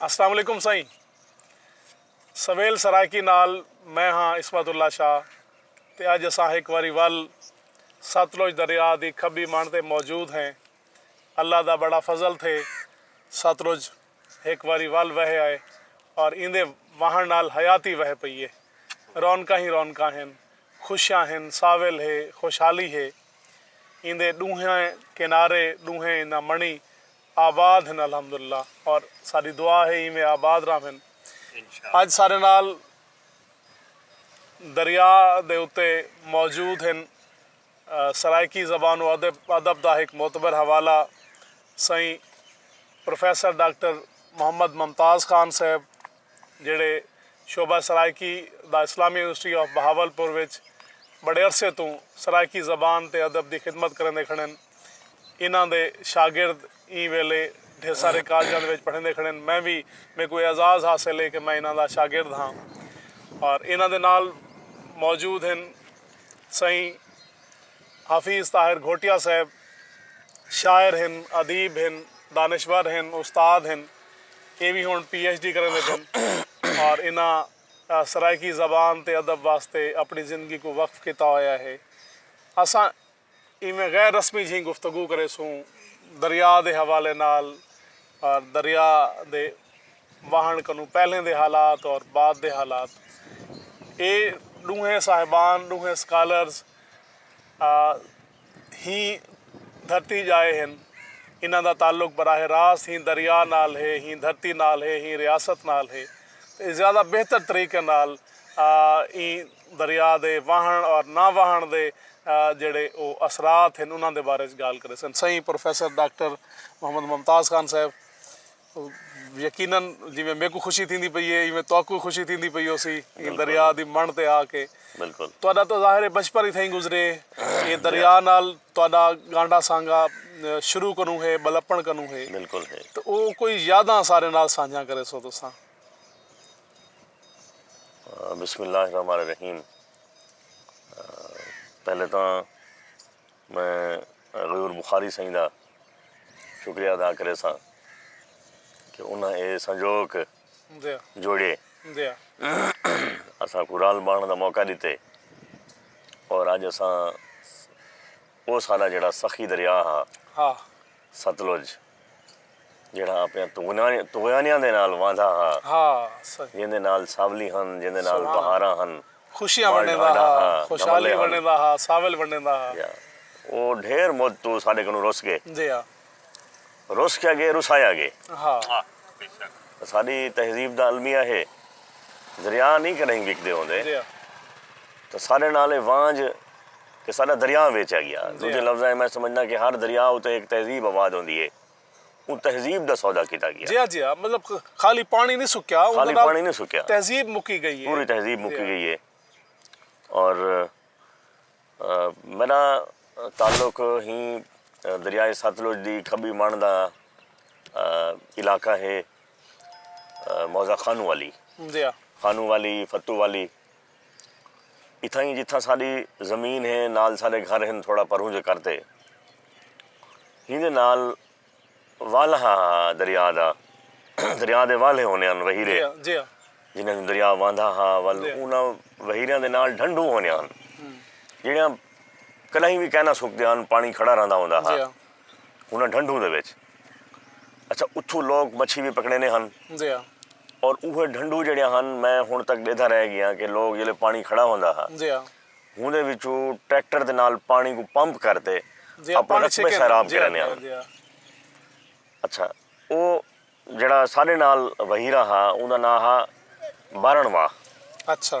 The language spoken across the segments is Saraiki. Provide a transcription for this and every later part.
السلام علیکم سائیں سویل سرائیکی نال میں ہاں عصمت اللہ شاہ تے اج اساں ہک واری ول ستلج دریا دی کھبی منڑ تے موجود ہیں اللہ دا بڑا فضل تھے ستلج ہک واری ول وہے آئے اور ایندے واہنڑ نال حیاتی وہے پئی ہے رونقاں ہی رونقاں ہن خوشیاں ہن ساول ہے خوشحالی ہے ایندے ڈونہیں کنارے ڈونہیں اینداں منڑی آباد ہن الحمداللہ اور ساڈی دعا ہے ایویں آباد راہون اج سارے نال دریا دے اتے موجود ہن سرائیکی زبان و ادب دا ہک معتبر حوالہ سئیں پروفیسر ڈاکٹر محمد ممتاز خان صاحب جیہڑے شعبہ سرائیکی دا اسلامی یونیورسٹی آف بہاولپور وچ بڑے عرصے توں سرائیکی زبان تے ادب دی خدمت کریندے کھڑن۔ انہاں دے شاگرد ایں ویلے ڈھیر سارے کالجاں دے وچ پڑھیندے کھڑے ہن۔ میں وی میکوں اے اعزاز حاصل ہے کہ میں انہاں دا شاگرد ہاں۔ اور انہاں دے نال موجود ہن سئیں حفیظ طاہر گھوٹیا صاحب شاعر ہن، ادیب ہن، دانشور ہن، استاد ہن۔ اے وی ہݨ پی ایچ ڈی کریندے پن۔ اور انہاں سرائیکی زبان تے ادب واسطے اپݨی زندگی کوں وقف کیتا ہویا ہے۔ اساں۔ ایویں غیر رسمی جھیں گفتگو کریسوں دریا دے حوالے نال اور دریا دے واہنڑ کنوں پہلیں دے حالات اور بعد دے حالات اے ڈونہیں صاحبان ڈونہیں سکالرز ہی دھرتی جائے ہن انہاں دا تعلق براہ راست ہی دریا نال ہے ہی دھرتی نال ہے ہی ریاست نال ہے تے زیادہ بہتر طریقے نال ایں دریا دے واہݨ اور نہ واہݨ دے جیڑھے او اثرات ہن انہاں دے بارے اچ گالھ کریسن سئیں پروفیسر ڈاکٹر محمد ممتاز خان صاحب یقینا جیویں میکوں خوشی تھیندی پئی اے ایویں تہاکوں وی خوشی تھیندی پئی ہوسی ایں دریا دی مݨ تے آ کے تہاڈا تاں ظاہر اے بچپن ای تھئیں گزرے ایں دریا نال تہاڈا گانڈھا سانگھا شروع کنوں ہے ٻلپݨ کنوں ہے تاں او کوئی یاداں اساݙے نال سانجھیاں کریسو تساں۔ بسم اللہ الرحمن الرحیم پہلے تاں میں غیور بخاری سائیں دا شکریہ ادا کرے ساں کہ انہاں اے سنجوک جوڑے اساں کو رال بانڑ دا موقع دیتے اور اج اساں او سارا جڑا سخی دریا ہا ستلج جیڑھا آپݨیاں طغیانیاں دے نال واندا ہا۔ ہا۔ جیندے نال ساولی ہن، جیندے نال بہاراں ہن۔ خوشیاں ونڈیندا ہا، خوشحالی ونڈیندا ہا، ساول ونڈیندا ہا۔ جی ہا۔ او ڈھیر مدت توں ساݙے کنوں رس ڳے۔ جی ہا۔ رس کیا ڳے، رسایا ڳے۔ ہا۔ ساݙی تہذیب دا المیہ ہے۔ دریا نئیں کݙاہیں وکدے ہوندے۔ جی ہا۔ تاں ساݙے نال اے وانڄ۔ تے ساݙا دریاں ویچیا ڳیا۔ ݙوجھے لفظاں اچ میں سمجھداں کہ ہر دریا اتے ہک تہذیب آباد ہوندی ہے۔ اوں تہذیب دا سودا کیتا ڳیا۔ جیہاں جیہاں مطلب خالی پاݨی نی سکیا اوں دے نال تہذیب مکی ڳئی ہے۔ پوری تہذیب مکی ڳئی ہے۔ اور میݙا تعلق ہی دریائے ستلج دی کھٻی مݨ دا علاقہ ہے موضہ خانو والی۔ خانو والی، فتو والی۔ اتھاں ای جتھاں ساݙی زمین ہے نال ساݙے گھر ہن تھوڑا پرھوں جے کر تے ہیندے نال والہ ہا دریا دا دریا دے والھے ہوندے ہن وہیرے جنہاں کوں دریا وہندا ہا ول انہاں وہیریاں دے نال ڈھنڈوں ہوندیاں ہن جیڑھیاں کݙاہیں وی کائناں سکدیاں ہن پاݨی کھڑا رہندا ہوندا ہا انہاں ڈھنڈوں دے وچ اچھا اتھوں لوک مچھی وی پکڑیندے ہن اور اوہے ڈھنڈوں جیڑھیاں ہن میں ہن تک ڈیدھا رہ گیاں کہ لوک جلے پانی کھڑا ہوندا ہا ہوندے وچوں ٹریکٹر دے نال پانی کوں پمپ کر تے اپنے رقبے سیراب کریندے ہن اچھا او جیڑھا ساڈے نال وہیرہ ہا اوندا ناں ہا بارن واہ اچھا۔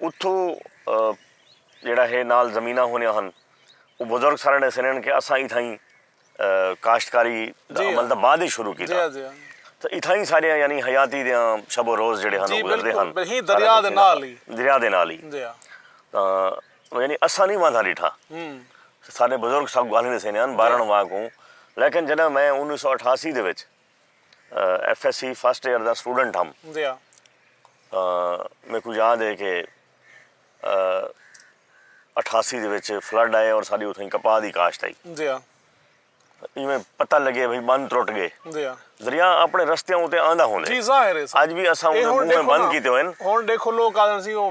اتھوں جیڑھا ہے نال زمیناں ہونیاں ہن او بزرگ سارے ݙسیندے ہن کہ اساں اتھائیں کاشتکاری دا عمل تاں بعد اچ شروع کیتا تاں اتھائیں ساݙیاں یعنی حیاتی دیاں شب و روز جیڑھے ہن او گزردے ہن دریا دے نال ہی دریا دے نال ہی تاں یعنی اساں نی واندا ݙٹھا ساݙے بزرگ ساکوں ڳالھیں ݙسیندے ہن ٻارݨ واکوں لیکن جݙاں میں انیس سو اٹھاسی دے وچ F S C first year دا سٹوڈنٹ ہم میکوں یاد ہے کہ اٹھاسی دے وچ فلڈ آئے اور ساری اتھیں کپاہ دی کاشت آئی جی ہاں ایویں پتہ لگے بھئی بند ٹرٹ گئے جی ہاں دریا اپنے رستیاں اتے آندا ہوندے جی ظاہر ہے اج بھی اساں اون منہ بند کیتے ہوئے ہن دیکھو لوگ آدن سی او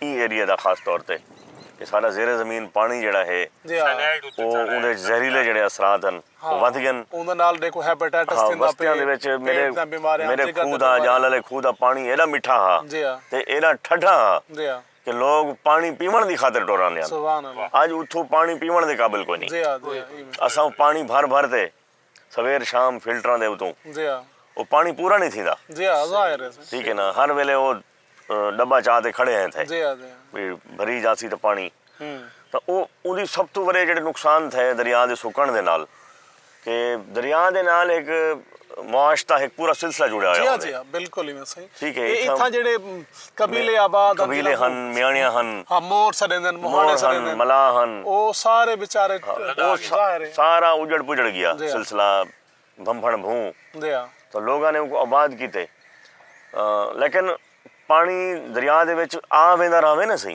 ایں ایریے دا خاص طور تے کہ ساڈا زیر زمین پانڑی جیڑھا ہے او اوندے وچ زہریلے جیڑھے اثرات ہن او ودھ گئن۔ وستیاں دے وچ میڈے میڈے کھوہ دا جال آلے کھوہ دا پانڑی ایڈا مٹھا ہا تے ایڈا ٹھڈا ہا کہ لوگ پانڑی پیونڑ دی خاطر ٹر آندے ہن۔ اج اتھوں پانڑی پیونڑ دے قابل کوئنی۔ اساں او پانڑی بھر بھر تے سویر شام فلٹراں دے اتوں او پاݨی پورا نئیں تھیندا ٹھیک ہے نا ہر ویلے او ڈبہ چا تے کھڑے ہیں تھے بھئی بھری جاسی تاں پاݨی تاں او اوندی سب توں وݙے جیڑھے نقصان تھے دریا دے سکݨ دے نال کہ دریا دے نال ہک معاش دا ہک پورا سلسلہ جڑیا ہویا ہوندے ٹھیک ہے اتھاں جیڑھے قبیلے آباد ہن۔ قبیلے ہن، میانڑیاں ہن۔ ہاں مور سڈیندے ہن، مہاڑے سڈیندے ہن۔ مور ہن، ملاح ہن۔ او سارے بیچارے ظاہر ہے۔ سارا اجڑ پجڑ گیا۔ سلسلہ بھمبھن بھوں۔ تو لوگاں نے اوکوں آباد کیتے۔ لیکن پانی دریا دے وچ آ ویندا رہوے نا سہی۔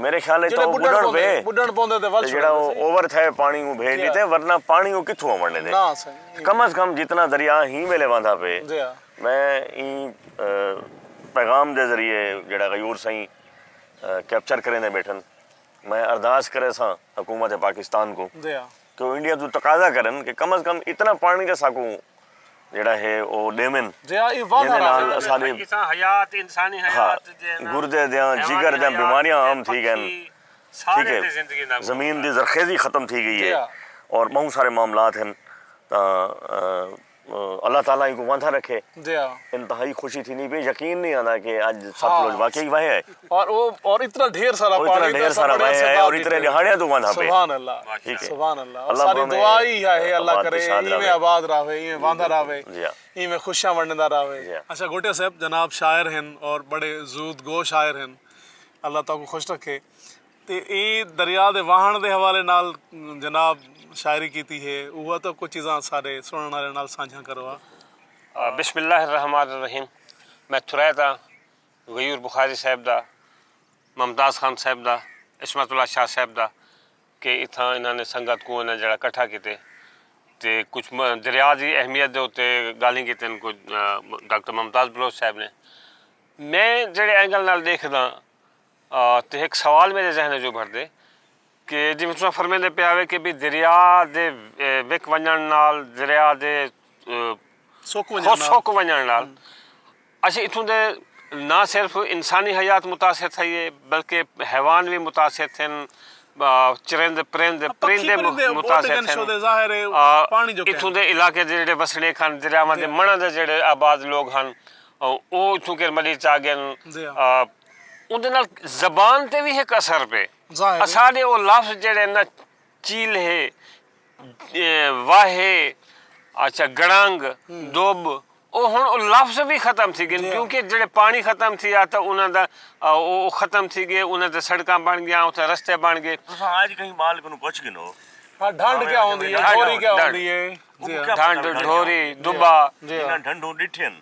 میݙے خیال اچ تاں او ٻݙݨ پئے تے جیڑھا او اوور تھئے پاݨی کوں بھیڄ ݙتے ورنہ پاݨی او کتھوں آوݨ ݙیندے کم از کم جتنا دریا ہی ویلے وہندا پئے میں ایں پیغام دے ذریعے جیڑھا غیور سئیں کیپچر کریندے ٻیٹھن میں ارداس کریساں حکومت پاکستان کوں توں انڈیا توں تقاضا کرن کہ کم از کم اتنا پانڑی تاں اساکوں جیڑھا ہے او ڈیون جیندے نال اساڈے گردے دیاں جگر دیاں بیماریاں عام تھی گئن ٹھیک ہے زمین دی زرخیزی ختم تھی گئی ہے اور بہوں سارے معاملات ہن تاں اللہ تعالی اینکوں واندھا رکھے۔ انتہائی خوشی تھیندی پئی یقین نہیں آندا کہ اج ستلج واقعی وہے ہے۔ اور اتنا ڈھیر سارا پانی۔ اتنا ڈھیر سارا وہے ہے اور اتنے ڈیہاڑیاں توں واندھا پئے۔ سبحان اللہ۔ ٹھیک ہے۔ سبحان اللہ۔ ساری دعا ای ہے اللہ کرے اینویں آباد رہوے اینویں واندھا رہوے۔ جی ہاں۔ اینویں خوشیاں ونڈدا رہوے۔ جی ہاں۔ اچھا گوٹیا صاحب جناب شاعر ہن اور بڑے زود گو شاعر ہن۔ اللہ تہاکوں خوش رکھے۔ تے ایں دریا دے واہݨ دے حوالے نال جناب شاعری کیتی ہے اوہا تاں کجھ چیزاں ساݙے سݨݨ آلیاں نال سانجھاں کروا۔ بسم اللہ الرحمن الرحیم میں تھرائے تاں غیور بخاری صاحب دا ممتاز خان صاحب دا عصمت اللہ شاہ صاحب دا کہ اتھاں انہاں نے سنگت کوں انہاں جیڑھا کٹھا کیتے تے کچھ دریا دی اہمیت دے اتے گالھیں کیتن کجھ ڈاکٹر ممتاز بلوچ صاحب نے میں جیڑھے اینگل نال ڈیکھداں تے ہک سوال میڈے ذہن اچ ابھردے کہ جیویں تساں فرمیندے پئے ہاوے کہ بھئی دریا دے وک ونجنڑ نال دریا دے سک ونجنڑ نال اسیں اتھوں دے نہ صرف انسانی حیات متاثر تھئی اے بلکہ حیوان وی متاثر تھن چرند پرند پرندے متاثر تھن اتھوں دے علاقے دے جیڑھے وسنیک ہن دریاواں دے منڑاں دے جیڑھے آباد لوگ ہن او اتھوں کر مڈی چا گن اوندے نال زبان تے وی ہک اثر پئے۔ اساݙے او لفظ جیڑھے ہن نا چیلھے، واھے، اچھا گڑنگ، دب او ہݨ او لفظ وی ختم تھی ڳن کیونکہ جیڑھے پاݨی ختم تھیا تاں انہاں دا او ختم تھی ڳئے انہاں تے سڑکاں بݨ ڳیاں اتھے رستے بݨ ڳئے۔ تساں اڄ کہیں ٻال کنوں پچھ گھنو۔ ہا ڈھنڈ کیا ہوندی ہے ڈھوری کیا ہوندی ہے۔ ڈھنڈ، ڈھوری، دبا۔ جنہاں ڈھنڈوں ݙٹھین۔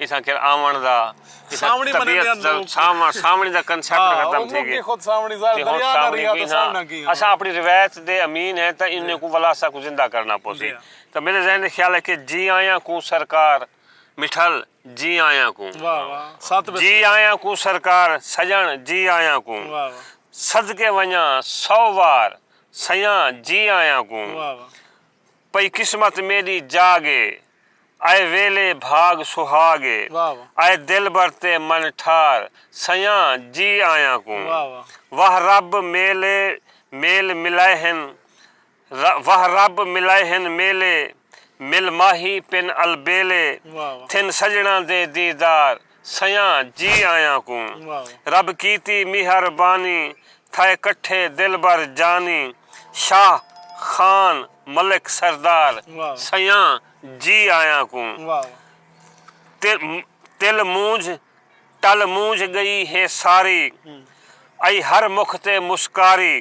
اتھاں کر آوݨ دا سانوݨی منیندے ہن لوک سانوݨی دا کنسیپٹ ختم تھی ڳئے خود سانوݨی ظاہر دریا نہ رہیا تاں سانوݨا کیہاں اساں اپݨی روایت دے امین ہیں تاں انہیں کوں ولا اساں کوں زندہ کرݨا پوسی تاں میݙے ذہن دے خیال ہے کہ جی آیاں کوں سرکار مٹھل جی آیاں کوں جی آیاں کوں سرکار سڄݨ جی آیاں کوں صدقے ونڄاں سو وار سیاں جی آیاں کوں پئی قسمت میݙی جاڳ اے۔ آئے ویلے بھاڳ سہاڳ اے۔ آئے دلبر تے من ٹھار۔ سئیاں جی آیاں کوں۔ واہ رب میلے میل ملائے ہن۔ واہ رب ملائے ہن میلے۔ مل ماہی پن البیلے۔ تھن سڄݨاں دے دیدار۔ سیاں جی آیاں کوں رب کیتی میہر بانی تھائے کٹھے دلبر جانی شاہ خان ملک سردار سیاں جی آیاں کوں تل مونجھ ٹل مونجھ گئی ہے ساری ائی ہر مکھ تے مسکاری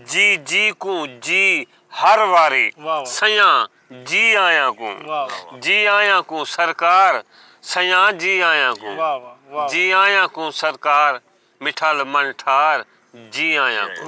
جی جی کوں جی ہر واری سیاں جی آیاں کوں جی آیاں کوں سرکار سیاں جی آیاں کوں جی آیاں کوں سرکار مٹھل من ٹھار جی آیاں کوں۔